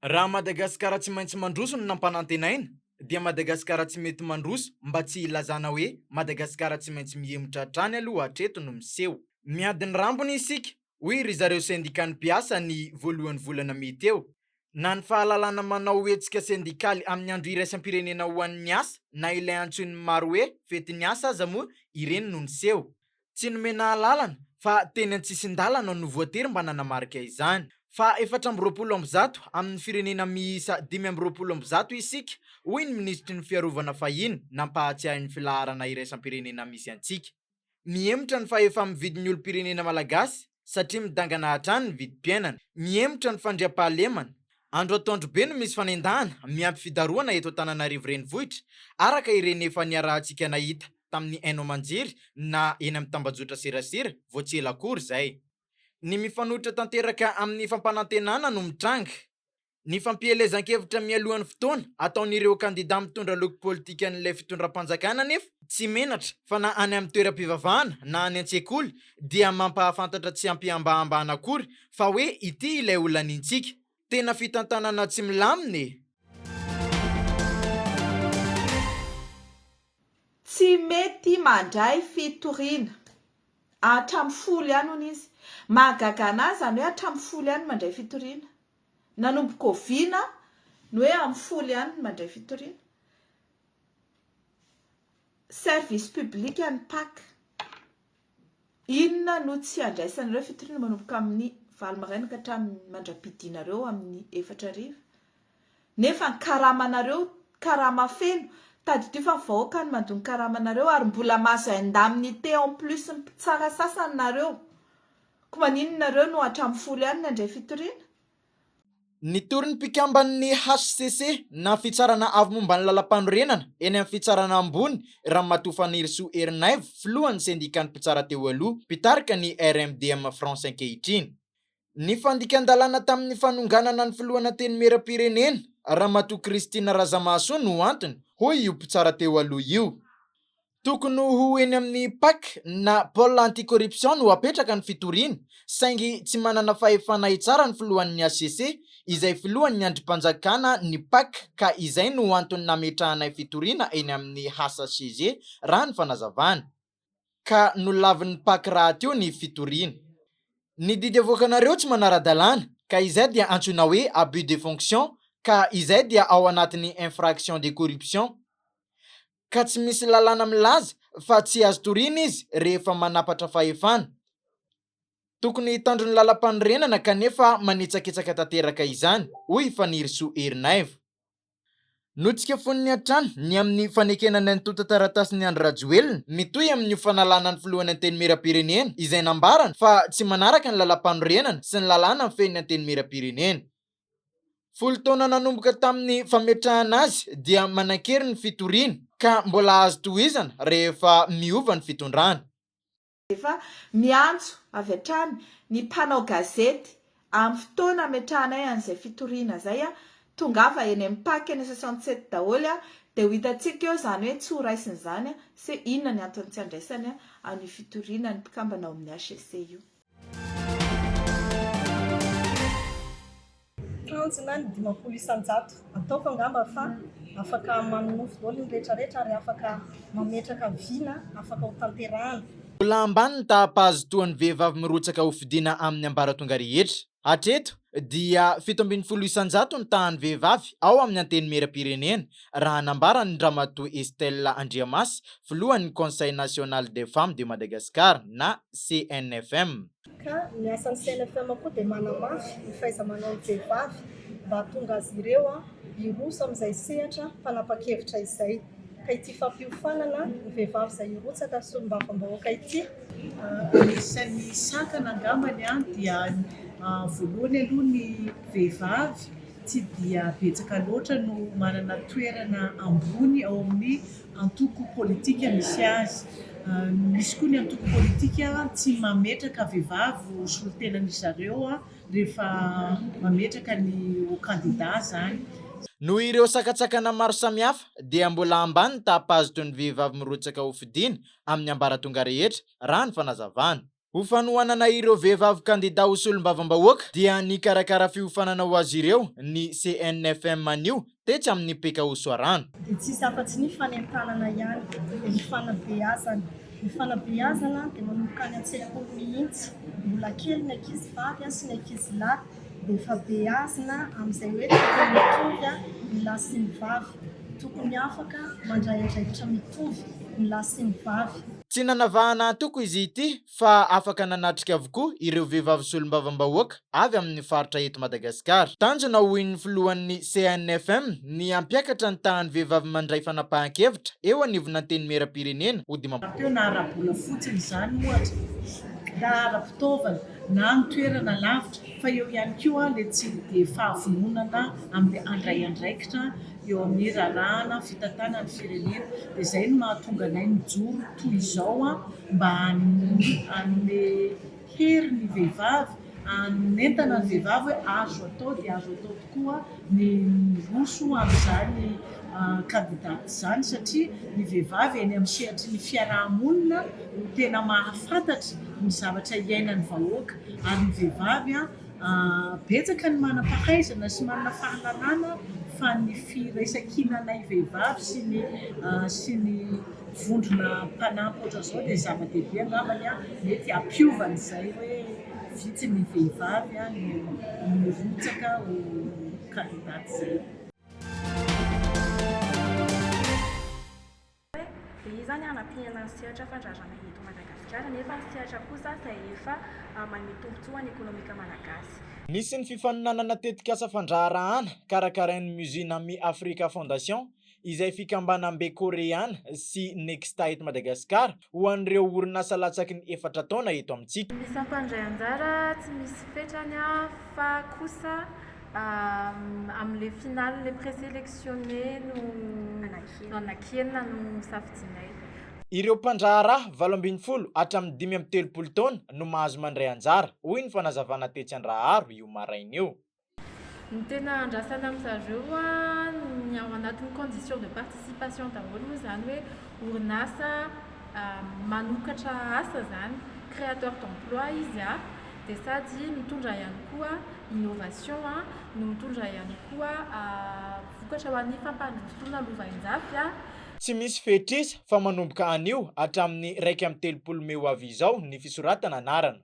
Raha Madagasikara tsy maintsy mandroso no nampanantenaina dia Madagasikara tsy mety mandroso mba tsy hilazana hoe Madagasikara tsy maintsy mihemotra hatrany aloha hatreto no miseho. Miady ny rambony isika, hoy ry zareo sendikan'ny mpiasa ny voalohan'ny volana mey teo. Na ny fahalalana manao hetsika sendikaly amin'ny andro iraisam-pirenena ho an'ny asa na ilay antsoin'ny maro hoe fetin'ny asa aza moa ireny no niseho. Tsy nomena alalana fa teny an-tsisin-dalana no voatery mba nanamarika izany. Fa efatra amby roapolo amby zato amin'ny firenena miisa dimy amby roapolo amby zato isika, hoy ny minisitry ny Fiarovana fahiny nampahatsiahy ny filaharana iraisam-pirenena misy antsika. Mihemotra ny fahefa-mividin'ny olom-pirenena malagasy. satria midangana hatrany ny vidim-piainana, mihemotra ny fandriampahalemana. Andro antoandro be no misy fanendahana miampy fidarohana eto Antananarivo Renivohitra, araka ireny efa niarahantsika nahita tamin'ny Haino Aman-jery na eny amin'ny tambajotra serasera vao tsy ela akory izay. Ny mifanohitra tanteraka amin'ny fampanantenana no mitranga. Ny fampielezan-kevitra mialohan'ny fotoana ataon'ireo kandidà mitondra loko politikan'ilay fitondram-panjakana anefa tsy menatra fa na any amin'ny toeram-pivavahana na any an-tsekoly dia mampahafantatra tsy am-pihambahambana akory fa hoe ity ilay olanintsika. Tena fitantanana tsy milamina e! Tsy mety mandray fitoriana. Hatramin'ny folo ihany hono izy. Mahagaga anahy izany hoe hatramin'ny folo ihany mandray fitoriana. Nanomboka oviana ny hoe amin'ny folo ihany ny mandray fitoriana? Service public an'ny pac. Inona no tsy andraisanareo fitoriana manomboka amin'ny valo maraina ka hatramin'ny mandra-pidianareo amin'ny efatra hariva? Nefa ny karamanareo, karama feno. Tadidio fa ny vahoaka no mandoa ny karamanareo ary mbola mahazo indemnité en plus ny mpitsara sasany nareo. Ko maninona nareo no hatramin'ny folo ihany nandray fitoriana? Nitory ny mpikamban'ny hcc na Fitsarana Avo momba ny Lalampanorenana eny amin'ny Fitsarana Ambony, Ramatoa Fanirisoa Erinaivo, filohan'ny sendikan'ny mpitsara teo aloha, mpitarika ny RMDM France ankehitriny. Ny fandikan-dalàna tamin'ny fanonganana ny filohan' Antenimierampirenena, Ramatoa Christine Razamahasoa no antony, hoy io mpitsara teo aloha io. Tokony ho eny amin'ny pac na pole anti-corruption no hapetraka ny fitoriana, saingy tsy manana fahefana hitsara ny filohan'ny hcc, izay filohan'ny andrimpanjakana ny pac ka izay no antony nametrahanay fitoriana eny amin'ny hcc raha ny fanazavany. Ka nolavin'ny pac rahateo ny fitoriana. Ny didy avoakanareo tsy manara-dalàna ka izay dia antsoina hoe abus de fonction ka izay dia ao anatin'ny infraction de corruption. ka tsy misy lalàna milaza fa tsy azo toriana izy rehefa manapatra fahefana. Tokony hitandro ny lalampanorenana kanefa manitsakitsaka tanteraka izany, hoy i Fanirisoa Erinaivo. Notsikafony hatrany ny amin'ny fanekena ny antontan-taratasin'i Andry Rajoelina mitohy amin'io fanalana ny filohan'ny Antenimierampirenena izay nambarany fa tsy manaraka ny lalampanorenana sy ny lalàna mifehy ny Antenimierampirenena. Folo taona nanomboka tamin'ny fametrahana azy dia manan-kery ny fitoriana ka mbola azo tohizana rehefa miova ny fitondrana. Efa miantso avy hatrany ny mpanao gazety amin'ny fotoana hametrahanay an'izay fitoriana izay, tongava eny amin'ny Pac eny soixante sept daholo dia ho hitantsika eo izany hoe tsy ho raisina izany sy inona ny antony tsy handraisany an'io fitoriana ny mpikambana ao amin'ny HCC io. Tanjona ny dimampolo isan-jato. Ataoko angamba fa afaka manonofy daholo ny rehetra rehetra ary afaka mametraka vina afaka ho tanterahana. Mbola ambany ny taha-pahazotoan'ny vehivavy mirotsaka ho fidiana amin'ny ambaratonga rehetra. Hatreto dia fito ambin'ny folo isan-jato ny tahan'ny vehivavy ao amin'ny Antenimieram-pirenena, raha nambaran-dRamatoa Estelle Andriamasy, filohan'ny Conseil National des Femmes de Madagascar na CNFM. Ka ny asan'ny CNFM koa dia manamafy ny fahaiza-manaon'ny vehivavy mba hahatonga azy ireo hiroso amin'izay sehatra fanapa-kevitra izay. ka ity fampiofanana ny vehivavy izay hirotsaka solombavambahoaka ity anisan'ny sakana angambany dia voalohany aloha ny vehivavy tsy dia betsaka loatra no manana toerana ambony ao amin'ny antoko politika misy azy misy koa ny antoko politika tsy mametraka vehivavy ho solontenan'ny zareo rehefa mametraka ny ho kandida izany Noho ireo sakantsakana maro samihafa dia mbola ambany ny taham-pahazotoan' ny vehivavy mirotsaka ho fidiana amin'ny ambaratonga rehetra, raha ny fanazavana. Ho fanohanana ireo vehivavy kandidà ho solombavambahoaka dia nikarakara fiofanana ho azy ireo ny CNFM anio tetsy amin'ny PKO Soarano. Dia tsisy afa-tsy ny fanentanana ihany dia ny fanabeazana. Ny fanabeazana dia manomboka any an-tsekoly mihitsy, mbola kely ny ankizy vavy sy ny ankizy lahy. Efa beazina amin'izay hoe tsy tena mitovy ny lahy sy ny vavy. Tokony afaka mandray andraikitra mitovy ny lahy sy ny vavy. Tsy nanavahana antoko izy ity fa afaka nanatrika avokoa ireo vehivavy solombavambahoaka avy amin'ny faritra eto Madagasikara. Tanjona hoy ny filohan'ny CNFM ny hampiakatra ny tahan'ny vehivavy mandray fanapahan-kevitra eo anivon'Antenimierampirenena ho dimampolo. Raha teo na ara-bola fotsiny izany ohatra na ara-pitaovana na amin'ny toerana lavitra fa eo ihany koa ilay tsy dia fahavononana amin'ny handray andraikitra eo amin'ny rarahana fitantanana ny firenena dia izay no mahatonga anay mijoro toy izao mba hanome hery ny vehivavy hanentana ny vehivavy hoe azo atao dia azo atao tokoa ny miroso amin'izany kandidata izany satria ny vehivavy eny amin'ny sehatry ny fiaraha-monina no tena mahafantatra ny zavatra iainan'ny vahoaka ary ny vehivavy betsaka ny manam-pahaizana sy manana fahalalana fa ny firaisan-kinanay vehivavy sy ny sy ny vondrona mpanampy ohatr'izao dia zava-dehibe angambany mety hampiova an'izay hoe Vitsy ny vehivavy no mirotsaka ho kandidata izay. Dia iza ny hanampiana ny sehatra fandraharana eto Madagasikara nefa ny sehatra kosa izay efa manome tombontsoa any ekonomika malagasy. Nisy ny fifaninanana tetikasa fandraharahana karakarain'ny Musina Mi Africa Foundation izay fikambanam-be Koreana sy Nexta eto Madagasikara ho an'ireo orinasa latsaky ny efatra taona eto amintsika. Ny mpandray anjara tsy misy fetrany fa kosa amin'ilay finale, les présélectionnés no anakianina no safidianay. Ireo mpandraharaha valo ambin'ny folo hatramin'ny dimy amby telopolo taona no mahazo mandray anjara, hoy ny fanazavana tetsy Andraharo io maraina io. Ny tena andrasana amin-dry zareo ny ao anatin'ny condition de participation daholo moa izany hoe orinasa manokatra asa izany, créateur d'emploi izy dia sady mitondra ihany koa innovation no mitondra ihany koa vokatra ho an'ny fampandrosoana lovainjafy. Tsy misy fetr'isa fa manomboka anio hatramin'ny iraika amby telopolo mey ho avy izao ny fisoratana anarana.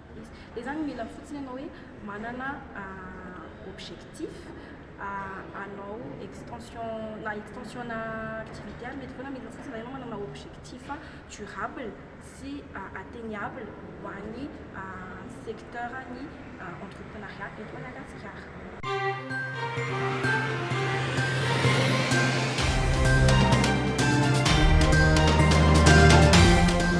Dia izany mila fotsiny ianao hoe manana objectif hanao extension na extension-na activité ary mety foana mila fotsiny izany ianao manana objectif durable sy atteignable ho an'ny secteur-n'ny entreprenariat eto Madagasikara.